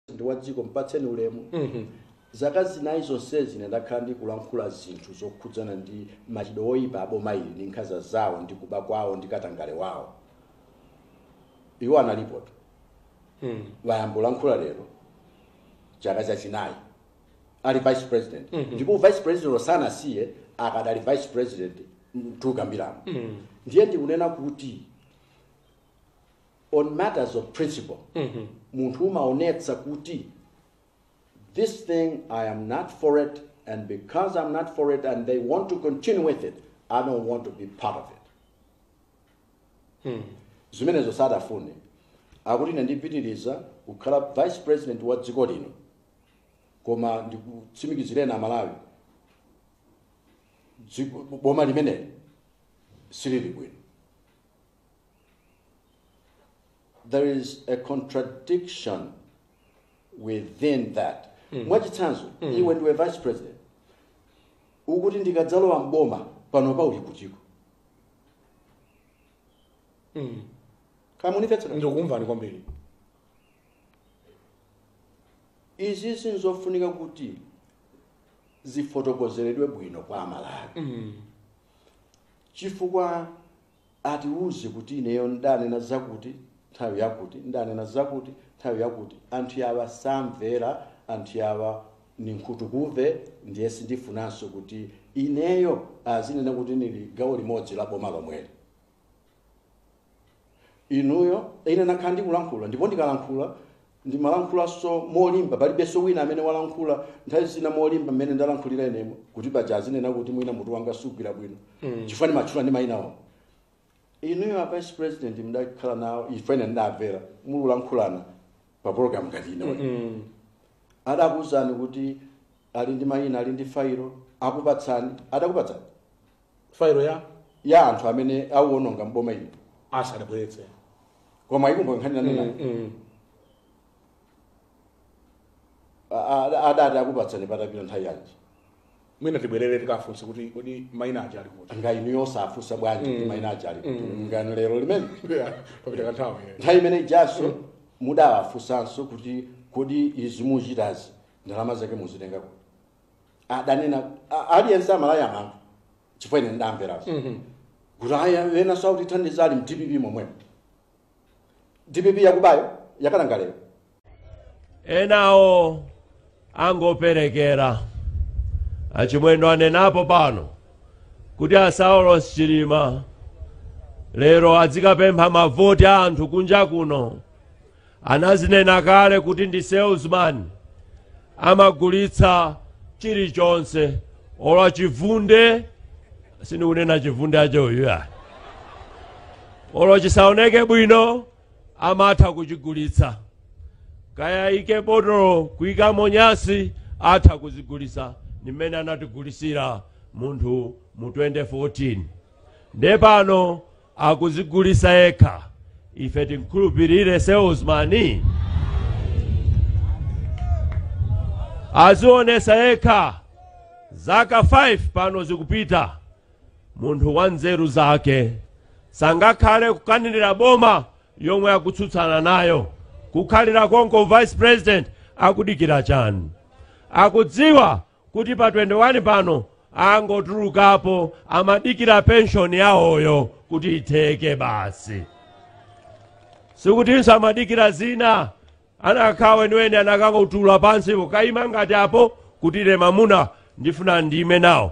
ndi wa dziko mpatseni ulemu zaka zinayi zonsezi ine ndakhala ndikulankhula zinthu zokhudzana ndi machitidwe oyipa a boma ili ndi nkhanza zawo ndi kuba kwawo ndi katangale wawo iwo analipotu wayamba ulankhula lero chaka chachinayi ali vice president ndipo vice president osanasiye akadali vice president mukukambiramo ndiye ndikunena kuti on matters of principle munthu umaonetsa kuti this thing i am not for it and because i'm not for it and they want to continue with it i don't want to be part of it zimenezo sadafune akuti ine ndipitiriza kukhala vice president wa dziko lino koma ndikutsimikizireni amalawi dziko- boma limeneli silili bwino there is a contradiction within that mwachitsanzo iwe ndiwe vice president ukuti ndikadzalowa mboma panopa uli kutiko kamunimvetsera ndikukumvani kwambiri izi sinzofunika kuti zifotokozeredwe bwino kwa amalawi chifukwa Atiuze kuti ineyo n'danena zakuti nthawi yakuti, n'danena zakuti nthawi yakuti, anthu awa samvera, anthu awa ni nkhutukumve ndiye sindifunanso kuti ineyo azinene kuti nili gawo limodzi la boma lomweli. Inuyo, ine nakhala ndikulankhula ndipo ndikalankhula ndimalankhulanso molimba palibenso wina amene walankhula nthawi zina molimba mmene ndalankhulira inemu kuti paja azinena kuti mwina mutu wanga sugwira bwino chifukwa ndimatchula ndi mayina awo inuyo a vice president mdakhala nawo ife ine ndidamvera mukulankhulana pa program ngati ino adakuwuzani kuti ali ndi mayina ali ndi failo akupatsani adakupatsani failo ya ya anthu amene awononga mboma inu sadabweretse koma ikumbo nkhani nanena Mm. adati akupatsani patapita nthawi yanji mwina tibwerere tikafunse kuti kodi maina aja ali kuti nga inu yosafunsa bwanji kuti maina aja ali kuti nga lero limene papita kanthawi eh. nthawi imene ijanso mudawafunsanso kuti kodi izi muchitazi ndalama zake muzitenga kuti adanena a- aliyense amalaya anthu chifukwa ine ndidamvera kuti ayi ena sakutithandiza ali mdpp momwemo dpp yakubayo yakatangaleyo enawo angoperekera achimwendo anenapo pano kuti a Saulos chilima lero adzikapempha mavoti a anthu kunja kuno anazinena kale kuti ndi salesman amagulitsa chilichonse olo chivunde sindikunena chivunde acho uyu ya olo chisaoneke bwino amatha kuchigulitsa kaya ike botolo kuyikamo nyasi atha kuzigulitsa ndi mmene anatigulisira munthu mu 2014 nde pano akuzigulisa yekha ife timukhulupirire salesman azionesa yekha zaka 5 pano zikupita munthu wa nzeru zake sangakhale kukanirira boma yomwe akutsutsana nayo kukhalira konko vice president akudikira chani akudziwa kuti pa 21 pano angotulukapo amadikira penshoni yawoyo kuti itheke basi sikutinso amadikira zina akanakhala weniweni anakangotula pansi nkayima ngati apo kuti ine mamuna ndifuna ndime nawo